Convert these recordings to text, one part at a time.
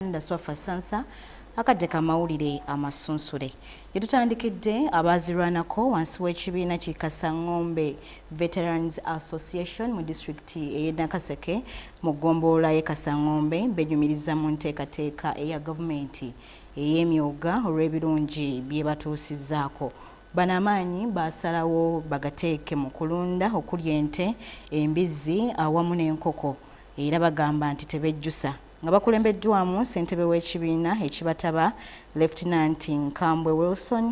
Uganda Swafa Sansa akadde ka mawulire amasunsule gyetutandikidde abaazirwanako wansi w'ekibiina ki Kasangombe Veterans Association mu disitulikiti ey'e Nakaseke mu ggombolola y'e Kasangombe benyumiriza mu nteekateeka eya gavumenti ey'emyooga olw'ebirungi bye batuusizzaako Bano amaanyi baasalawo bagateeke mu kulunda okuli ente, embizzi awamu n'enkoko era bagamba nti tebejjusa. nga bakulembeddwamu ssentebe w'ekibiina ekibataba Lieutenant Nkambwe Wilson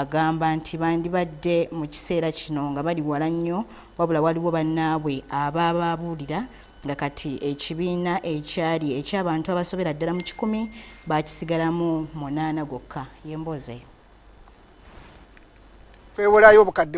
agamba nti bandibadde mu kiseera kino nga bali wala nnyo wabula waliwo bannaabwe abaababuulira nga kati ekibiina ekyali eky'abantu abasobera ddala mu kikumi baakisigalamu munaana gwokka yemboozeyo twewolayo obukadde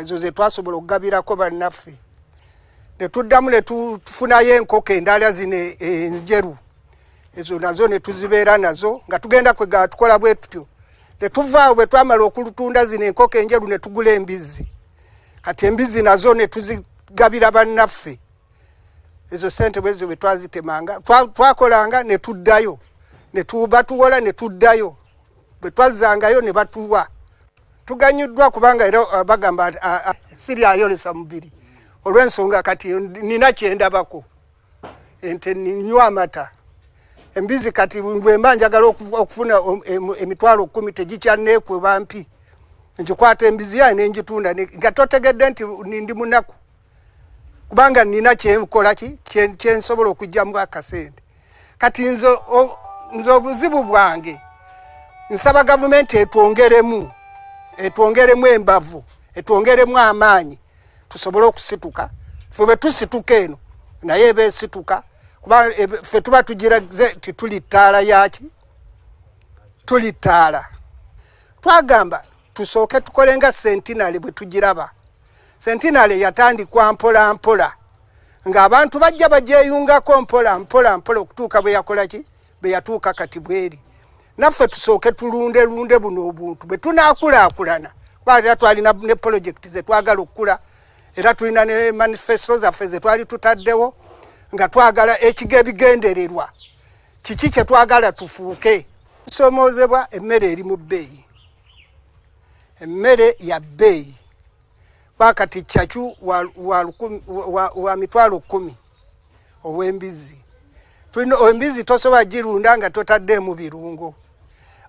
ezo zetwasobola okugabirako bannaffe netuddamu netufunayo enkoko endala zino enjeru ezo nazo netuzibeera nazo nga tugenda kwega tukola bwe tutyo netuvaawo bwe twamala okulutunda zino enkoko enjeru netugula embizzi kati embizzi nazo netuzigabira bannaffe ezo sente bwezo bwe twazitemanga twakolanga netuddayo batuwola netuddayo bwe twazzangayo ne batuwa tuganyuddwa kubanga era uh, bagamba uh, uh, siri ayolesa mubiri olw'ensonga kati nina kyendabako ente ninywa amata embizi kati bwemba njagala okufuna um, emitwalo kumi tegikyanneekuba mpi ngikwata embizi yaye nengitunda nga totegedde nti ndi munaku kubanga nina kyenkola ki kyensobola okugyamu akasente kati nze nze obuzibu bwange nsaba gavumenti etwongeremu etwongeremu embavu etwongeremu amaanyi tusobole okusituka fe bwe tusituka eno naye eba esituka kuba fe tuba tugiraze ti tuli ttaala yaki tuli ttaala twagamba tusooke tukole nga sentinale bwe tugiraba sentinale yatandikwa mpola mpola ng'abantu bajja bagyeyungako mpola mpola mpola okutuuka bwe yakola ki bwe yatuuka kati bweri naffe tusooke tulunde lunde buno obuntu bwe tunaakulaakulana kuba era twalina ne polojekiti ze twagala okukula era tulina ne manifesto zaffe ze twali tutaddewo nga twagala ekiga ebigendererwa kiki kye twagala tufuuke tusomoozebwa emmere eri mu bbeeyi emmere ya bbeeyi bakati cacu wa, wa, wa, wa mitwalo kumi ow'embizzi tulina embizzi tosobola girunda nga totaddeemu birungo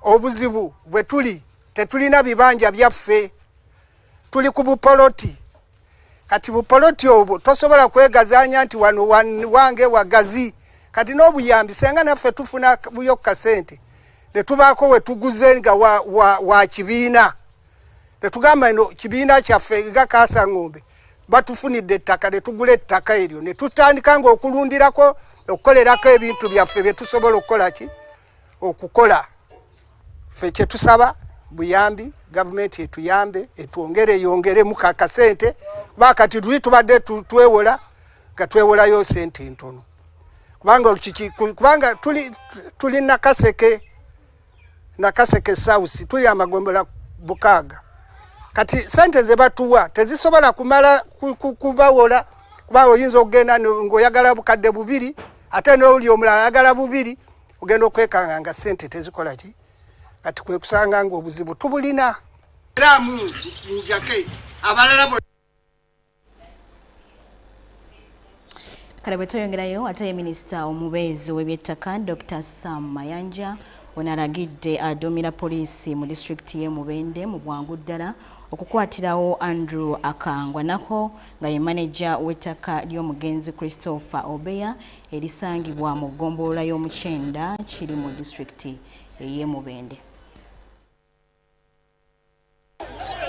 obuzibu bwe tuli tetulina bibanja byaffe tuli ku bupoloti kati bupoloti obwo tosobola kwegazanya nti wano wange wagazi kati n'obuyambi senga naffe tufuna buyo kasente netubaako wetuguze nga wa, wa, wa kibiina netugamba no kibiina kyaffe nga kaasa ng'ombe batufunidde ettaka netugula ettaka eryo netutandika nga okulundirako okukolerako ebintu byaffe byetusobola okukola ki okukola fe kyetusaba buyambi gavumenti etuyambe etwongere yongeremu kakasente bakati tuli tubadde twewola nga twewolayo sente entono kubanga olukiki kubanga tuli tuli nakaseke nakaseke sausi tuli amagombola bukaaga kati sente zebatuwa tezisobola kumala kubawola kuba oyinza okugenda ngaoyagala bukadde bubiri ate nowuli omulala ayagala bubiri ogenda okwekanga nga sente tezikola ki kati kwekusanga nga obuzibu tubulina era munjake abalala kale bwetweyongerayo ate ye minisita omubeezi w'ebyettaka dr sam mayanja ono alagidde aduumira poliisi mu disitulikiti y'e mubende mu bwangu ddala okukwatirawo andrew akangwa nako nga ye maneja w'ettaka ly'omugenzi Christopher Obeya erisangibwa mu ggombolola y'omukyenda kiri mu disitulikiti ey'e Mubende.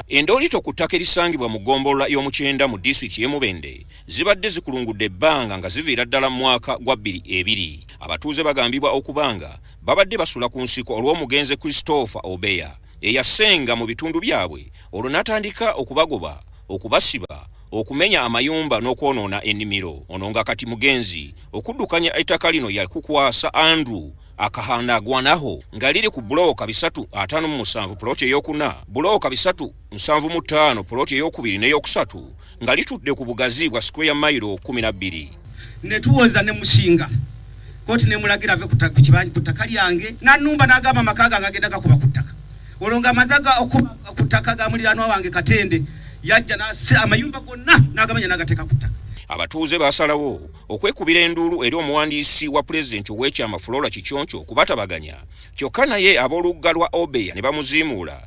Endoolito ku ttaka erisangibwa mu ggombolola y'omukyenda mu disitulikiti y'e Mubende zibadde zikulungudde ebbanga nga ziviira ddala mu mwaka gwa bbiri ebiri. Abatuuze bagambibwa okubanga babadde basula ku nsiko olw'omugenzi Christopher Obeya eyasenga mu bitundu byabwe olwo n'atandika okubagoba okubasiba okumenya amayumba n'okwonoona ennimiro ono nga kati mugenzi okuddukanya ettaka lino yakukwasa andrew akahanda agwanaho nga liri ku bulooka bisatu ataano mu musanvu poloti eyokuna bulooka bisatu nsanvu mu ttaano poloti eyokubiri n'eyokusatu nga litudde ku bugazi bwa square mailo 12 ne tuwoza ne mushinga koti ne mulagira ave kutaka kibanyi kutaka lyange na numba na gama makaga ngagenda kakuba kutaka olonga mazaga okutaka ga mulirano wange katende yajja na se amayumba gonna nagamanya nagateka kutaka abatuuze basalawo okwekubira enduulu eri omuwandiisi wa pulezidenti ow'ekyama flora kiconco okubatabaganya kyokka naye ab'olugga lwa obeya ne bamuziimuula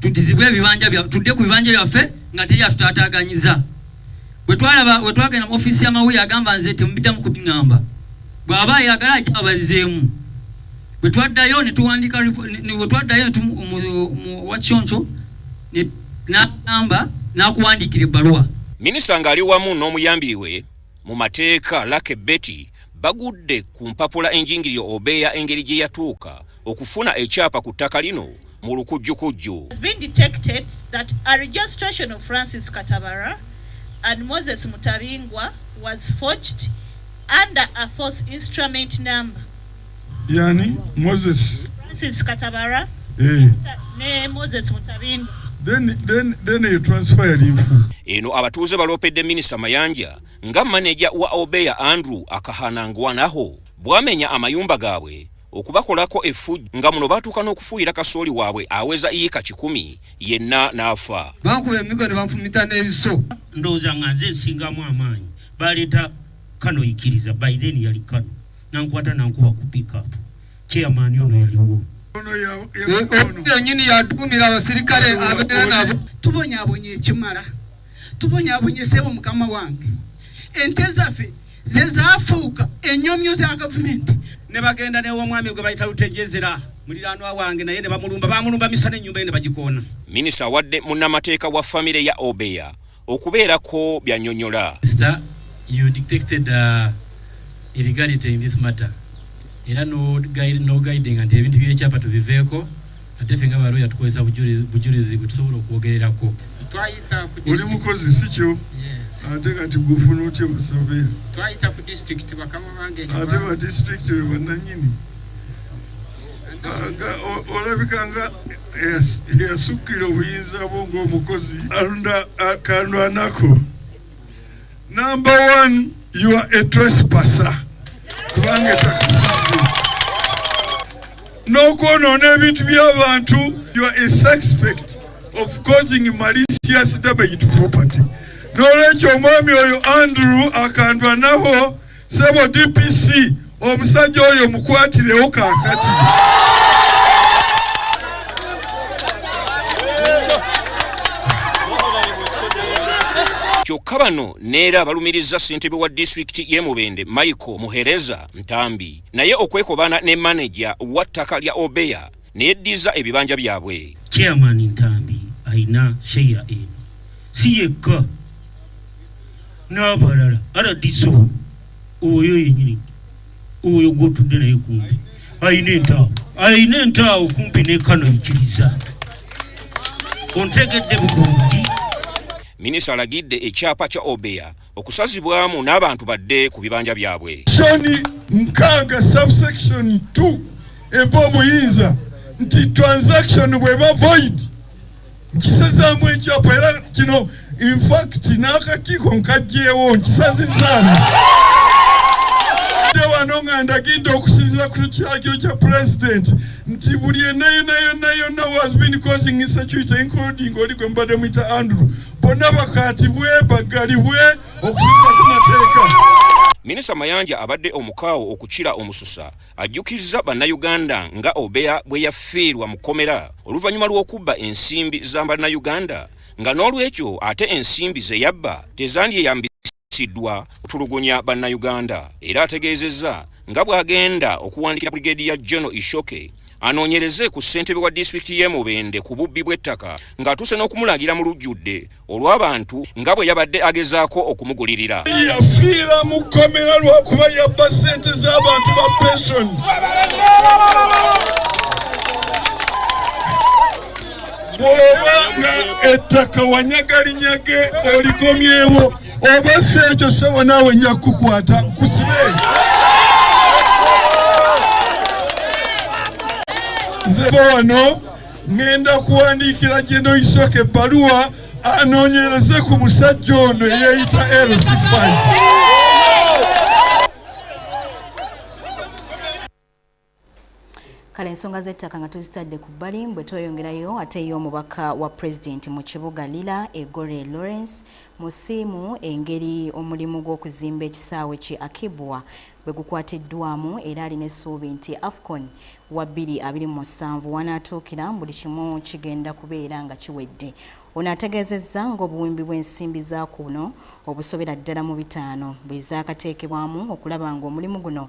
tudizibwe ebibanja bya tudde ku bibanja byaffe nga teri atutaataaganyiza bwe twalaba we twagenda mu ofiisi y'amawulire agamba nze temubiddamu kubiŋamba bw'aba ayagala ajja abalizeemu bwe twaddayo ne tuwandiika bwe twaddayo wakyonco n'agamba n'akuwandiikira ebbaluwa minisita ng'ali wamu n'omuyambi we mu mateeka lake betty bagudde ku mpapula enjingirire obeeya engeri gye yatuuka okufuna ekyapa ku ttaka lino mu lukujjukujju and Moses Mutabingwa was forged under a false instrument number. Yani Moses. Francis Katabara. Eh. Ne Moses Mutabingwa. Then, then, then you transfer him. Eno abatuuze baloopedde minisita Mayanja nga maneja wa Obeya Andrew Akahanangwanaho bwamenya amayumba gaabwe okubakolako efujjo nga muno baatuuka n'okufuuyira kasooli waabwe aweza iika kikumi yenna n'afa bankuba emigo ne banfumita n'ebiso ndowooza nga nze nsingamu amaanyi baleeta kano ikiriza by then yali kano nankwata nankuba ku pickup chairman ono yaliwo yonyini yatukumira abasirikale abeera nabo tubonyabonye ekimala tubonyabonye sebo mukama wange ente zaffe ze zaafuuka ennyomyo za gavumenti ne bagenda n'ew'omwami gwe bayita lutejezera muliraanwa wange naye ne bamulumba bamulumba misa n'ennyumba ye ne bagikoona minisita awadde munnamateeka wa famire ya obeya okubeerako byanyonyola era nogaidinga nti ebintu byekyapa tubiveeko Ate ffe nga ba lawyer tukozesa bujulizi bwetusobola okwogererako. Oli mukozi sikyo? Ate kati gufuna otya basaveya? Ate ba district be bananyini? Olabika nga eyasukkira obuyinza bwo ng'omukozi. Alunda akandu anako. Number one, you are a trespasser. Kubanga etakasibwa. N'okwonoona ebintu by'abantu, you are a suspect of causing malicious damage to property. N'olwekyo omwami oyo Andrew akandwanaho Sebo DPC omusajja oyo mukwatirewo kakati. kyokka bano neera abalumiriza ssentebe wa disitulikiti y'e mubende michael muhereza ntambi naye okwekobaana ne maneja wa ttaka lya obeya neyeddiza ebibanja byabwe. Chairman Ntambi alina sheya eno si yekka n'abalala rdc oyo yenyini oyo gwotudde naye kumpi alina entaawo alina entaawo kumpi nekano ikiriza ontegedde bulungi minisita alagidde ekyapa kya obeya okusazibwamu n'abantu badde ku bibanja byabwe. Shoni nkaaga subsection 2 empa omuyinza nti transaction bweba void nkisazaamu ekyapa era kino infact n'akakiiko nkajjeewo nkisazizaamu wano nga ndagidde okusinzira ku kyakyo kya president nti buli enayonayonayona was been causing insecurity including oli gwe mubadde muyita andrew bonna bakatibwe baggalibwe okusinza ku mateeka minisita mayanja abadde omukaawo okukira omususa ajjukizza bannayuganda nga obeya bwe yafiirwa mu kkomera oluvannyuma lw'okubba ensimbi za bannayuganda nga n'olwekyo ate ensimbi ze yabba tezandiyeyambisa sidwa kutulugunya bannayuganda era ategeezezza nga bw'agenda okuwandikira brigedi ya jono ishoke anoonyereze ku ssentebe wa disitulikiti y'e mubende ku bubbi bw'ettaka ng'atuuse n'okumulagira mu lujjudde olw'abantu nga bwe yabadde agezaako okumugulirira yafiira mu kkomera lw'okuba yabba ssente z'abantu ba pensioni bw'oba nga ettaka wanyagalinyage olikomyewo oba si ekyo ssebo naawe nja kukukwata nkusibe nzeva wano ŋŋenda kuwandiikira gyeno isoka ebbaluwa anoonyereze ku musajja ono eyeeyita lc5 kale ensonga z'ettaka nga tuzitadde ku bbali bwe tweyongerayo ate ye omubaka wa pulezidenti mu kibuga lila egore lawrence musiimu engeri omulimu gw'okuzimba ekisaawe ki akibwa bwe gukwatiddwamu era alina essuubi nti afcon wa 227 wanaatuukira buli kimu kigenda kubeera nga kiwedde ono ategeezezza ng'obuwumbi bw'ensimbi za kuno obusobera ddala mu bitaano bwe zaakateekebwamu okulaba ng'omulimu guno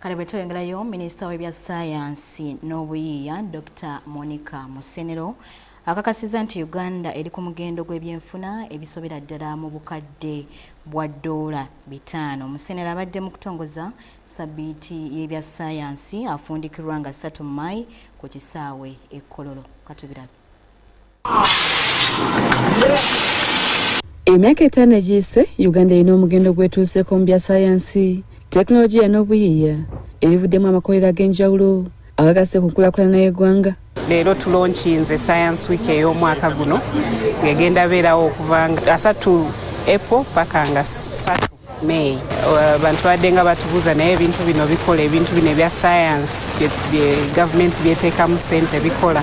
kale bwe tweyongerayo minisita w'ebya sayansi n'obuyiiya dr monica musenero akakasiza nti uganda eri ku mugendo gw'ebyenfuna ebisobera ddala mu bukadde bwa ddoola bitaano musenero abadde mu kutongoza sabiiti y'ebya sayansi afundikirwa nga ssatu mu maayi ku kisaawe ekkololo katubirabe emyaka etaano egiyise uganda erina omugendo gwetuuseko mu bya sayansi tekinologiya n'obuyiiya ebivuddemu amakolero ag'enjawulo agagasse ku nkulakulana y'eggwanga leero tulonkinze science week ey'omwaka guno ngegenda beerawo okuva nga asatu epo paka nga satu May uh, bantu badde nga batubuuza naye ebintu bino bikola ebintu bino ebya science gavumenti byeteekamu sente bikola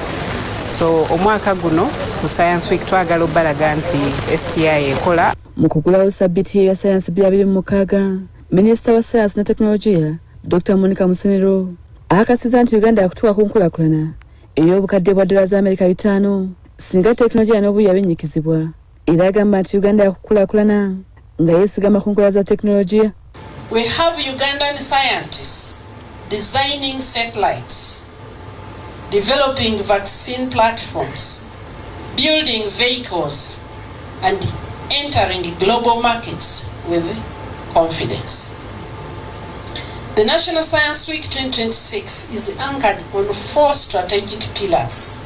so omwaka guno ku science week twagala obbalaga nti sti ekola mu kugulawo sabbiti ebya sayansi bya biri mu mukaaga minisita wa sayansi ne tekinologiya dr monica musenero akasiza nti uganda yakutuuka ku nkulakulana ey'obukadde bwa dola za amerika bitaano singa tekinologiya n'obuyiya binyikizibwa era agamba nti uganda yakukulakulana nga yesigama ku nkola za tekinologiya We have Ugandan scientists designing satellites, developing vaccine platforms, building vehicles, and entering global markets with confidence. The National Science Week 2026 is anchored on four strategic pillars.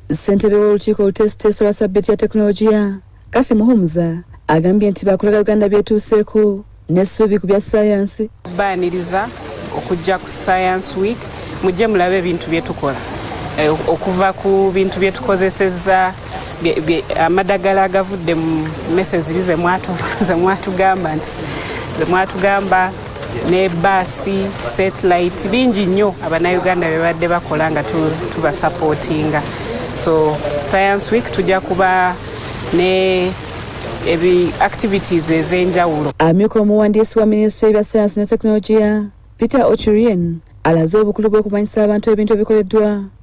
ssentebe w'olukiiko oluteesiteesi olwa sabbiti ya tekinologiya kathy muhumuza agambye nti bakulaga uganda byetuuseeko n'essuubi ku bya sayansi baaniriza okujja ku science week mujje mulabe ebintu byetukola eh, okuva ku bintu byetukozeseza amadagala agavudde mu mese ziri zemwatugamba nti mwatugamba ne baasi satellite bingi nnyo abanauganda bebadde bakola nga tubasapootinga so science week tujja kuba ne ebi activities ez'enjawulo amyuka omuwandiisi wa minisitule ebya sayansi ne tekinologiya peter ochurien alaze obukulu bw'okumanyisa abantu ebintu ebikoleddwa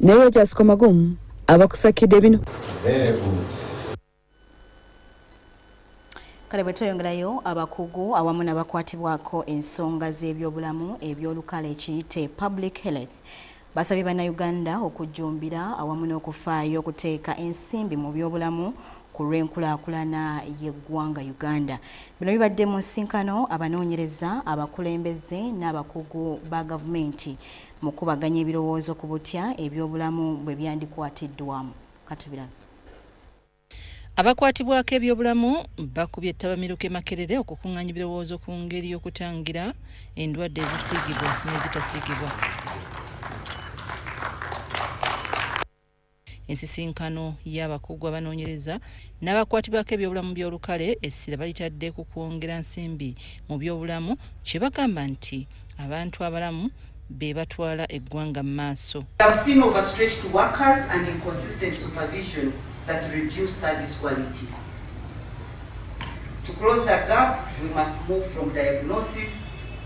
ne Rogers Komagumu abakusakidde bino kale bwe tweyongerayo abakugu awamu n'abakwatibwako ensonga z'ebyobulamu eby'olukale ekiyite public health basabye bannayuganda okujjumbira awamu n'okufaayo okuteeka ensimbi mu byobulamu ku lw'enkulaakulana y'eggwanga uganda bino bibadde mu nsinkano abanoonyereza abakulembeze n'abakugu ba gavumenti Mukubaganya ebirowoozo ku butya ebyobulamu bwe byandikwatiddwamu. Katubirabe. Abakwatibwako ebyobulamu bakubye ttabamiruka e Makerere okukunganya ebirowoozo ku ngeri y'okutangira endwadde ezisiigibwa n'ezitasiigibwa. Ensisinkano y'abakugu abanoonyereza n'abakwatibwako ebyobulamu by'olukale essira balitadde ku kwongera nsimbi mu byobulamu kye bagamba nti abantu abalamu be batwala eggwanga mu maaso. To close the gap, we must move from diagnosis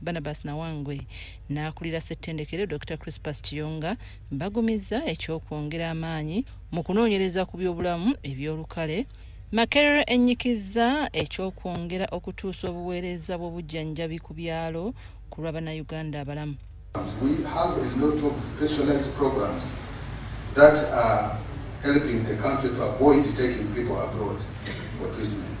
Barnabas Nawangwe n'akulira ssettendekero Dokita Crispus Kiyonga bagumizza eky'okwongera amaanyi mu kunoonyereza ku byobulamu eby'olukale Makerere ennyikizza eky'okwongera okutuusa obuweereza bw'obujjanjabi ku byalo ku lwa Bannayuganda abalamu. We have a lot of specialized programs that are helping the country to avoid taking people abroad for treatment.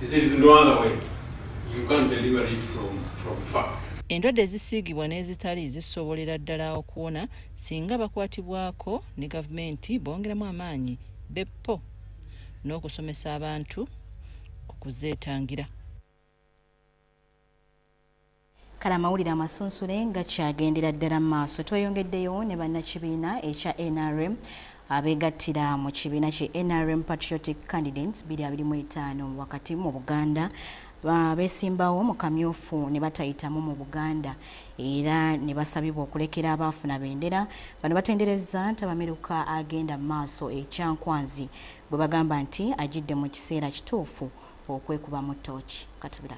There is no other way. You can't deliver it from, from far. Endwadde ezisiigibwa n'ezitali zisobolera ddala okuwona singa bakwatibwako ne gavumenti bongeramu amaanyi beppo n'okusomesa abantu ku kuzeetangira. Kale amawulire amasunsule nga kyagendera ddala mu maaso, tweyongeddeyo ne bannakibiina ekya nrm abeegattira mu kibiina ki nrm Patriotic Candidates 2025 wakati mu Buganda beesimbawo mu kamyufu ne batayitamu mu Buganda era ne basabibwa okulekera abaafuna bendera. Bano batenderezza ntabamiruka agenda mu maaso e Kyankwanzi gwe bagamba nti ajidde mu kiseera kituufu okwekubamu ttooki. Katubira.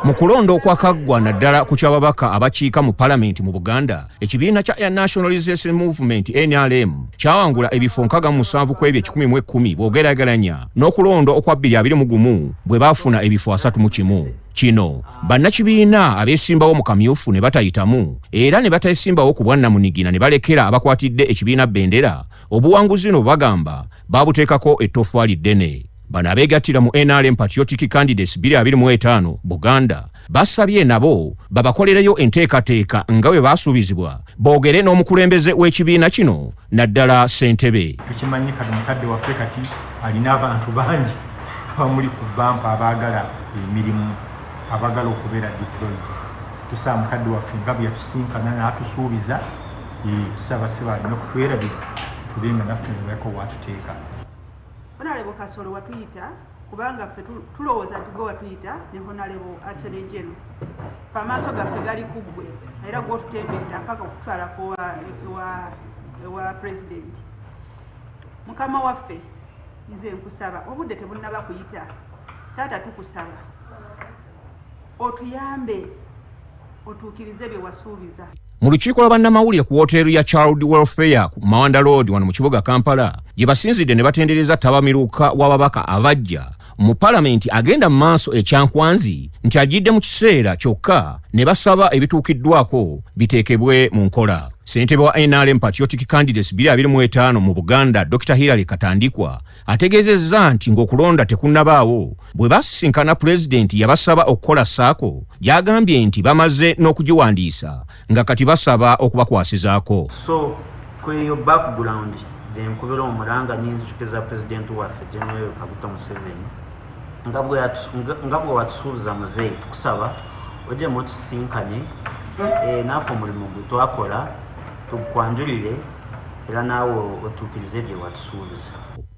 mu kulonda okwakaggwa naddala ku kyababaka abakiika mu palamenti mu buganda ekibiina kya air nationalization movement nrm kyawangula ebifo nkaga musanvu ku ebyo ekikumi mu ekkumi bwogerageranya n'okulonda okwa bbiri abiri mu gumu bwe baafuna ebifo asatu mu kimu kino bannakibiina abeesimbawo mu kamyufu ne batayitamu era ne batesimbawo ku bwannamunigina ne balekera abakwatidde ekibiina bendera obuwanguzi no bagamba babuteekako ettoffaali ddene bano abeegattira mu nrm patriotic candidates 25 buganda basabye nabo babakolereyo enteekateeka nga bwe baasuubizibwa boogere n'omukulembeze w'ekibiina kino naddala ssentebe tukimanyi kati mukadde waffe kati alina abantu bangi abamuli ku bampa abaagala emirimu abaagala okubeera deployed tusaa mukadde waffe nga bwe yatusinkana n'atusuubiza tusaba seba alina okutwerabira tube nga naffe nebako watuteeka honalebo kasolo watuyita kubanga ffe tulowooza nti gwe watuyita ne honalebo atelejeno fe amaaso gaffe gali ku ggwe era gwotutembedda mpaka okutwalako ewa pulezidenti mukama waffe nze nkusaba obudde tebunnaba kuyita taata tukusaba otuyambe otuukirize bye wasuubiza mu lukiiko lwa bannamawulire ku wooteeri ya child welfare ku mawanda loodi wano mu kibuga kampala gye basinzidde ne batendereza tabamiruka w'ababaka abajja mu palamenti agenda mu maaso ekyankwanzi nti agidde mu kiseera kyokka ne basaba ebituukiddwako biteekebwe mu nkola ssentebe wa nrm patriotic candidates 25 mu buganda dr hillary katandikwa ategeezezza nti ng'okulonda tekunnabaawo bwe basisinkana pulezidenti yabasaba okukola saako gy'agambye nti bamaze n'okugiwandiisa nga kati basaba okubakwasizaako so kweyo background gyenkubira omulanga n'enzijukiza pulezidenti waffe general kaguta museveni nga bwe watusuubiza muzeeyi tukusaba ojemu otusisinkane eh, naafe omulimu gwe twakola tukwanjulire era naawe otuukirize bye watusuubiza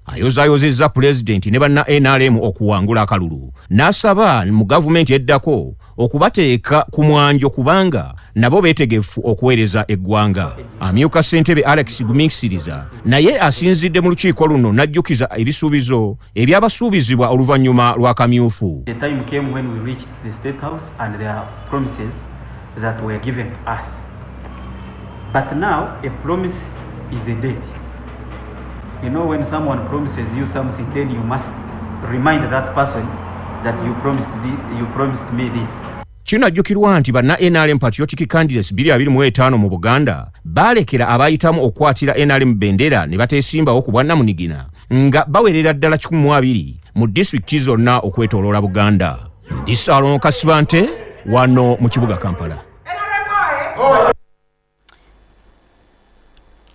ayozaayozezza pulezidenti ne banna nrm okuwangula akalulu n'asaba mu gavumenti eddako okubateeka ku mwanjo kubanga nabo beetegefu okuweereza eggwanga amyuka ssentebe alex gumiisiriza naye asinzidde mu lukiiko luno n'ajjukiza ebisuubizo ebyabasuubizibwa oluvannyuma lwa kamyufu But now a promise is a debt. You know when someone promises you something then you must remind that person that you promised, the, you promised me this. Kinajjukirwa nti banna NRM Patriotic Candidates 25 mu Buganda baalekera abaayitamu okukwatira NRM bendera ne bateesimbawo ku bwannamunigina nga bawerera ddala 12 mu disitulikiti zonna okwetooloola Buganda. Ndi Saalongo Kasibante wano mu kibuga Kampala.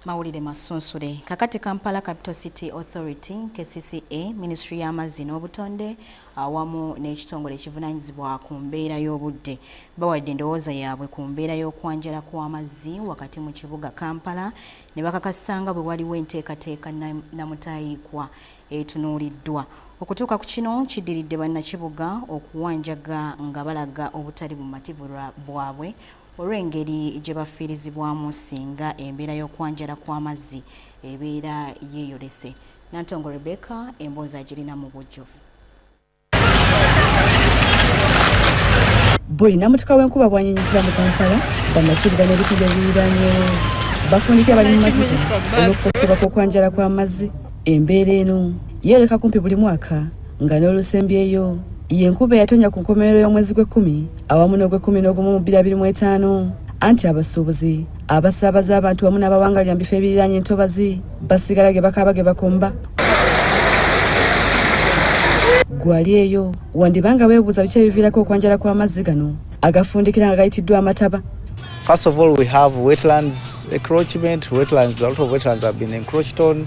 mawulire masunsule kakati kampala capital city authority kcca minisitule y'amazzi n'obutonde awamu n'ekitongole ekivunanyizibwa ku mbeera y'obudde bawadde endowooza yaabwe ku mbeera y'okwanjala kw'amazzi wakati mu kibuga kampala ne bakakasa nga bwe waliwo enteekateeka namutayiikwa etunuuliddwa okutuuka ku kino kiddiridde bannakibuga okuwanjaga nga balaga obutali bumativu bwabwe olw'engeri gye bafiirizibwamu singa embeera y'okwanjala kw'amazzi ebeera yeeyolese. Nantongo Rebecca emboozi agirina mu bujjuvu. Buli namutuka w'enkuba bwanyinyikiza mu Kampala, bannakibuga n'ebitundu ebiriraanyewo bafundikira abali mu maziga olw'okukozesebwa kw'okwanjala kw'amazzi. Embeera eno yeeyoleka kumpi buli mwaka nga n'olusembyeyo y'enkuba eyatonya ku nkomerero y'omwezi gw'ekkumi awamu n'ogwekumi n'ogumu mu bbiri mu etaano anti abasuubuzi abasaabaza abantu wamu n'abawangalira mu bifo ebiriraanye entobazi basigala ge bakaaba ge bakomba gwali eyo wandiba nga weebuuza biki ebiviirako okwanjala kw'amazzi gano agafundikira nga gayitiddwa amataba First of all, we have wetlands encroachment. Wetlands, a lot of wetlands have been encroached on.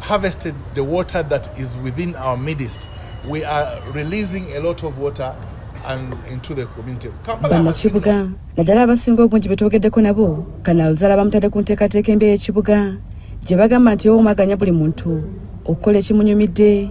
harvested the water that is within our midst. We are releasing a lot of water and into the community. Banakibuga naddala abasinga obungi betwogeddeko nabo kanaal zala bamutadde ku nteekateeka embi ey'ekibuga gye bagamba nti ewomaganya buli muntu okukola ekimunyumidde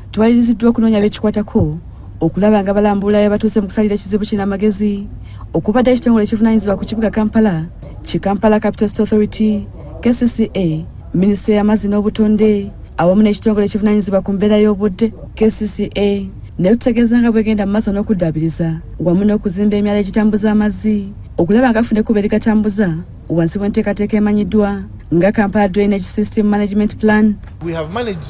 Tuwaliriziddwa okunoonya abekikwatako okulaba nga balambula yabatuuse mu kusalira ekizibu kino amagezi okubadde ekitongole ekivunanyizibwa ku kibuga kampala ki kampala capital state authority kcca minisitule y'amazzi n'obutonde awamu n'ekitongole ekivunanyizibwa ku mbeera y'obudde kcca naye tutegeeza nga bwegenda mu maaso n'okuddaabiriza wamu n'okuzimba emyala egitambuza amazzi okulaba nga afuna ekkuba erigatambuza wansi w'enteekateeka emanyiddwa nga kampala drainage system management plan We have managed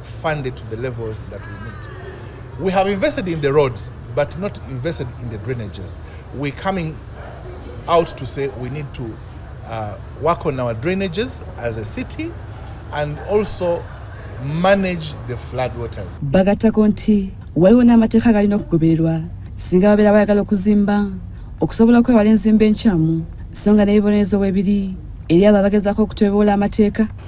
fund it to the levels that we need. We have invested in the roads, but not invested in the drainages. We're coming out to say we need to uh, work on our drainages as a city and also manage the flood waters. Bagatako nti waliwo n'amateeka galina okugobererwa singa babeera bayagala okuzimba okusobola okwewala enzimba enkyamu so nga n'ebibonerezo bwebiri eri abo abagezaako okutweboola amateeka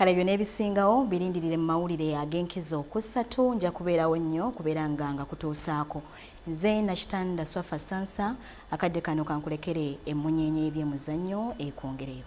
kale ebyo n'ebisingawo birindirire mu mawulire ag'enkizo ku ssatu nja kubeerawo nnyo kubeera nga nga kutuusaako nze nakitanda swafa sansa akadde kano kankulekere emmunyeenye y'ebyemuzannyo ekwongereyo